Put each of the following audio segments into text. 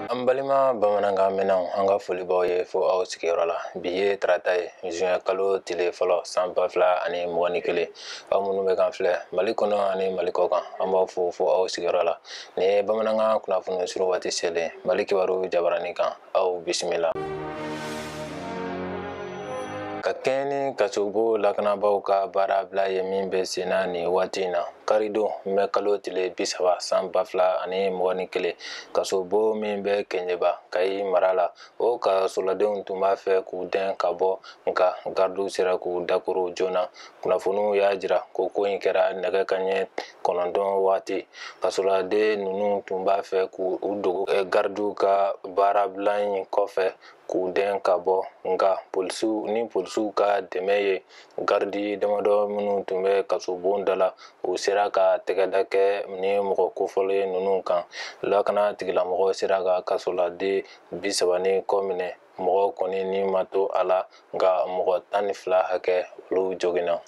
An balima bamanankan mɛnnaw an ka foli b'aw ye fo aw sigiyɔrɔ la bi ye tarata ye juin kalo tile fɔlɔ san ba fila ani mugan ni kelen aw minnu bɛ k'an filɛ mali kɔnɔ ani mali kɔ kan an b'aw fo fo aw sigiyɔrɔ la nin ye bamanankan kunnafoni suru waati selen mali kibaru jabaranin kan aw bisimila ka kɛɲɛ ni kasobon lakanabaaw ka baarabila ye min bɛ senna nin waati in na karidon mɛ kalo tile bi saba san ba fila ani mugan ni kelen kasobon min bɛ kɛɲɛba kayi mara la o kasoladenw tun b'a fɛ k'u dɛn ka bɔ nka garidiw sera k'u dakoron joona kunnafoniw y'a jira ko ko in kɛra nɛgɛ kanɲɛ kɔnɔntɔn waati kasoladen ninnu tun b'a fɛ k'u dogo eh, garidiw ka baarabila in kɔfɛ k'u dɛn ka bɔ nka polisiw ni polisiw ka dɛmɛ ye garidi damadɔ minnu tun bɛ kasobon da la u sera ka tɛgɛda kɛ ni mɔgɔ kofɔlen ninnu kan lakana tigilamɔgɔ sera ka kasoladen bi saba ni kɔ minɛ mɔgɔ kɔni ni ma to a la nka mɔgɔ tan ni fila hakɛ olu joginna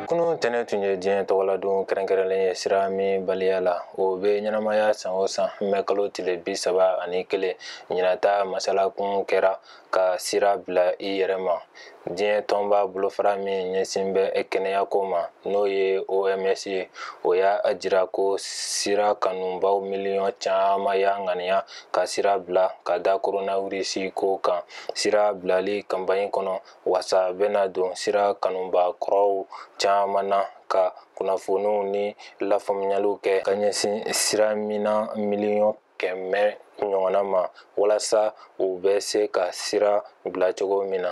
kunun tɛnɛn tun ye diɲɛ tɔgɔladon kɛrɛnkɛrɛnnen ye siraminbaliya la o bɛ ɲɛnamaya san o san mɛ kalo tile bi saba ani kelen ɲinan ta masalakun kɛra ka sira bila i yɛrɛ ma diɲɛ tɔnba bolofara min ɲɛsin bɛ kɛnɛyako ma n'o ye oms ye o y'a jira ko sira kanubaw miliyɔn caman y'a ŋaniya ka sira bila ka da koronawirisi ko kan sira bilali kanpaɲi kɔnɔ wasa bɛna don sira kanuba kɔrɔw caman na ka kunnafoniw ni lafaamuyaliw kɛ ka ɲɛsin siraminna miliyɔn kɛmɛ ɲɔgɔnna ma walasa u bɛ se ka sira bila cogo min na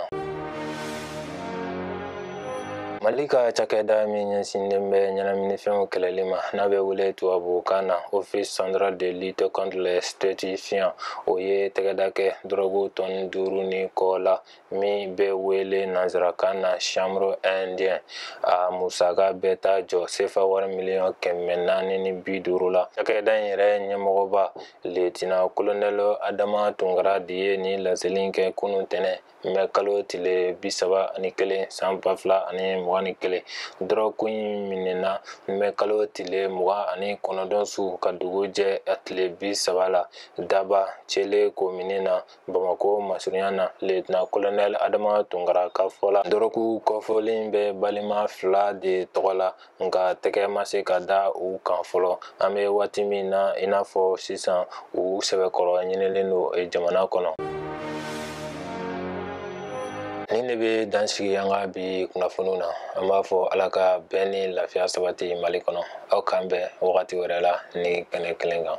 mali ka cakɛda min ɲɛsinnen bɛ ɲɛnaminifɛnw kɛlɛli ma n'a bɛ wele tubabukan na office central de lutte contre les stupéfiants o ye tɛgɛda kɛ dɔrɔgu tɔni duuru ni kɔ la min bɛ wele nanzarakan na chanvre indien a musaka bɛ taa jɔ sefa wari miliyɔn kɛmɛ naani ni bi duuru la cakɛda in yɛrɛ ɲɛmɔgɔba letina kolonɛl adama tunkara de ye nin laseli kɛ kunun tɛnɛn mɛ kalo tile bi saba ani kelen san ba fila ani mugan ni kelen dɔrɔgu in minɛna mɛ kalo tile mugan ani kɔnɔntɔn su ka dugu jɛ a tile bi saba la daba cele komini na bamakɔ masurunya na letina kolonɛl adama tunkara ka fɔ la dɔrɔku kɔfɔlen bɛ balima fila de tɔgɔ la nka tɛgɛ ma se ka da u kan fɔlɔ an bɛ waati min na i n'a fɔ sisan u sɛbɛkɔrɔ ɲinilen don jamana kɔnɔ nin de bɛ dan sigi an ka bi kunnafoniw na an b'a fɔ ala ka bɛn ni lafiya sabati mali kɔnɔ aw k'an bɛn wagati wɛrɛ la nin kɛnɛ kelen kan